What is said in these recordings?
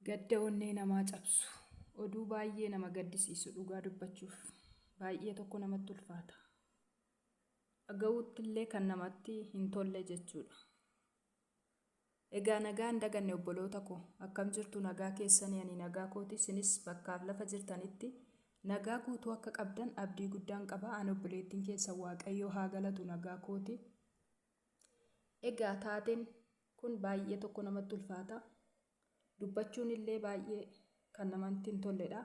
Gadda onnee namaa cabsu. Oduu baay'ee nama gaddisiisu dhugaa dubbachuuf baay'ee tokko namatti ulfaata. Dhaga'uutti illee kan namatti hin tolle jechuudha. Egaa nagaa hin daganne obboloota koo akkam jirtu nagaa keessanii ani nagaa kooti isinis bakkaaf lafa jirtanitti nagaa guutuu akka qabdan abdii guddaan qaba an obboleettiin keessan waaqayyoo haa galatu nagaa kooti. Egaa taateen kun baay'ee tokko namatti ulfaata. Dubbachuun illee baay'ee kan namatti hin tolledha.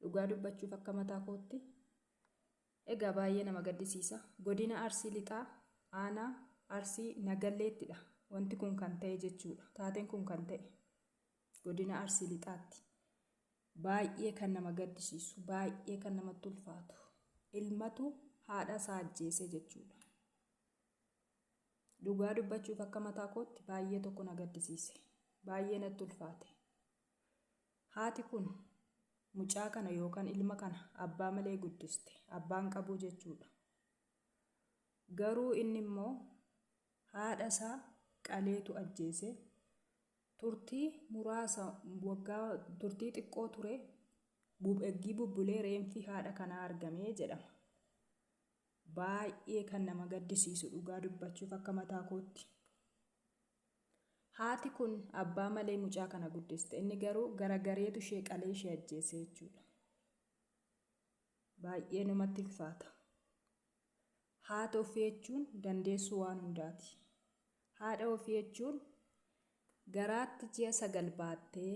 Dhugaa dubbachuuf akka mataa kootti. Egaa baay'ee nama gaddisiisa. Godina Arsii Lixaa aanaa Arsii Nagalleettidha. Wanti kun kan ta'e jechuudha. Taateen kun kan ta'e godina Arsii Lixaatti. Baay'ee kan nama gaddisiisu, baay'ee kan namatti ulfaatu. Ilmatu haadha isaa ajjeese jechuudha. Dhugaa dubbachuuf akka mataa kootti baay'ee tokko na gaddisiise. Baay'ee natti ulfaate. Haati kun mucaa kana yookaan ilma kana abbaa malee guddiste. Abbaan qabuu jechuudha. Garuu inni immoo haadha isaa qaleetu ajjeese. Turtii muraasa, waggaa turtii xiqqoo ture, bub- eggii bubbulee reenfi haadha kanaa argame jedhama. Baay'ee kan nama gaddisiisu dhugaa dubbachuuf akka mataa kootti. Haati kun abbaa malee mucaa kana guddiste. Inni garuu garagareetu ishee qalee ishee ajjeese jechuudha. Baay'ee namatti ulfaata. Haati ofii jechuun dandeessuu waan hundaati. Haadha ofii jechuun garaatti ji'a sagal baattee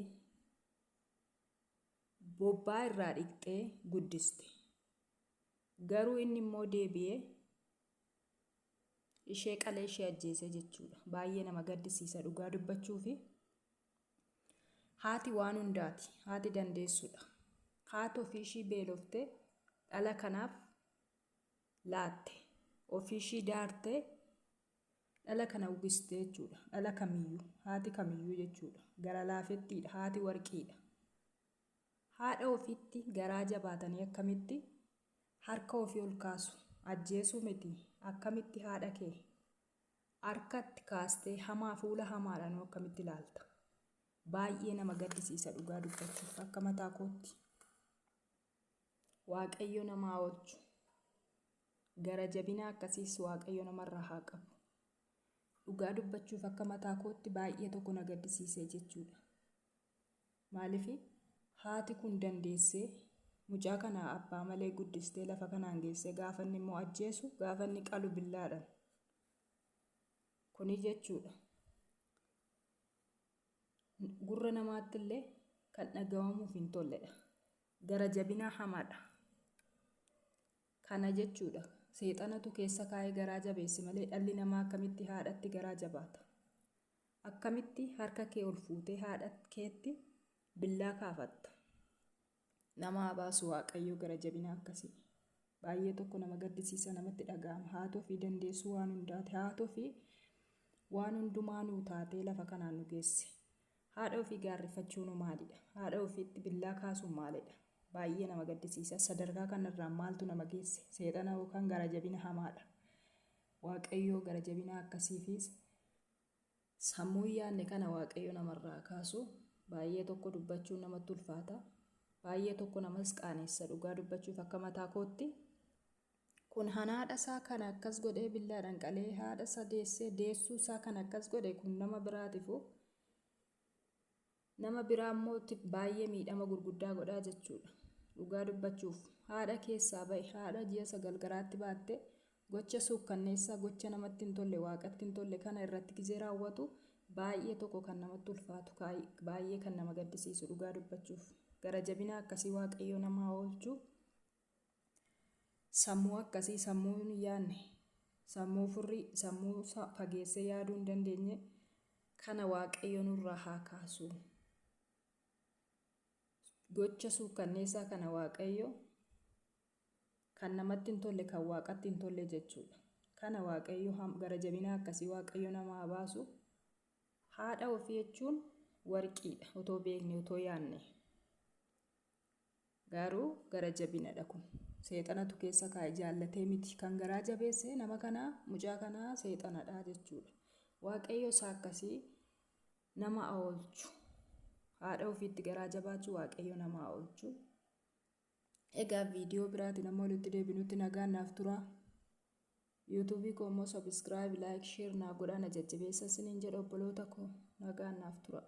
bobbaa irraa dhiqxee guddiste. Garuu inni immoo deebi'ee ishee qalee ishee ajjeese jechuudha. Baay'ee nama gaddisiisa dhugaa dubbachuufi. Haati waan hundaati. Haati dandeessudha. Haati ofii ishii beeloftee dhala kanaaf laatte. Ofiishii daartee dhala kana ugiste jechuudha. Dhala kamiyyuu, haati kamiyyuu jechuudha. Gara laafettiidha, haati warqiidha. Haadha ofiitti garaa jabaatanii akkamitti harka ofii ol kaasu? Ajjeesuu miti. Akkamitti haadha kee harkatti kaastee hamaa fuula hamaadhaanuu akkamitti ilaalta? Baay'ee nama gaddisiisa dhugaa dubbachuuf akka mataa kootti. Waaqayyo nama haa oolchu. Gara jabina akkasiis Waaqayyo namarraa haa qabu. Dhugaa dubbachuuf akka mataa kootti baay'ee tokko na gaddisiisee jechuudha. Maaliif haati kun dandeessee mucaa kana abbaa malee guddistee lafa kanaan geessee gaafa inni immoo ajjeesu gaafa inni qalu billaadhaan. Kuni jechuudha. gurra namaattillee kan dhagahamuuf hin tolledha. Gara jabinaa hamaadha. Kana jechuudha. Seexanatu keessa kaa'ee garaa jabeesse malee dhalli namaa akkamitti haadhatti garaa jabaata? Akkamitti harka kee ol fuutee haadha keetti billaa kaafatta? Nama haa baasu waaqayyoo gara jabina akkasii. Baay'ee tokko nama gaddisiisa namatti dhaga'ama. Haatofii dandeessuu waan hundaati. Haatofii waan hundumaa nuu taatee lafa kanaan nu geesse. Haadha ofii gaarrifachuun hoo maalidha? Haadha ofiitti billaa kaasuun maalidha? Baay'ee nama gaddisiisa. Sadarkaa kanarraan maaltu nama geesse? Seexana yookaan gara jabina hamaadha. Waaqayyoo gara jabina akkasiifiis Sammuu hin yaadne kana Waaqayyo namarraa kaasu baay'ee tokko dubbachuun namatti ulfaata. Baay'ee tokko namas qaanessa dhugaa dubbachuuf akka mataa kootti. Kun han haadha isaa kana akkas godhee billaadhaan qalee haadha isaa deessee deessuu isaa kan akkas godhe kun nama biraatifu Nama biraa immoo tti baay'ee miidhama gurguddaa godhaa jechuudha. Dhugaa dubbachuuf, haadha keessaa ba'e, haadha ji'a sagal garaatti baatte, gocha suukkanneessaa, gocha namatti hin tolle, Waaqatti hin tolle kana irratti gizee raawwatu baay'ee tokko kan namatti ulfaatu, baay'ee kan nama gaddisiisu dhugaa dubbachuuf. Gara jabina akkasii Waaqayyo nama haa oolchu. Sammuu akkasii sammuu hin yaadne, sammuu furrii, sammuu isaa fageessee yaaduu hin dandeenye kana Waaqayyo nurraa haa kaasu. Gocha suukkanneessaa kana Waaqayyo kan namatti hin tolle kan waaqatti hin tolle jechuudha. Kana Waaqayyo ham- gara jabinaa akkasii Waaqayyo nama haa baasu. Haadha ofii jechuun warqiidha otoo beekne otoo yaadne. Gaaruu gara jabinadha kun. Seexanatu keessa kaa'e jaallatee miti. Kan garaa jabeesse nama kanaa mucaa kanaa seexanadha jechuudha. Waaqayyo isaa akkasii nama aoolchu. Haadha ofiitti garaa jabaachuu waaqayyo nama aoolchu. Egaa viidiyoo biraatiin amma walitti deebinutti nagaan naaf turaa. Yuutuubii koo immoo sabiskiraayib, laayik, sheer naa godhaa na jajjabeessa isiniin jedha obboloota koo nagaan naaf turaa.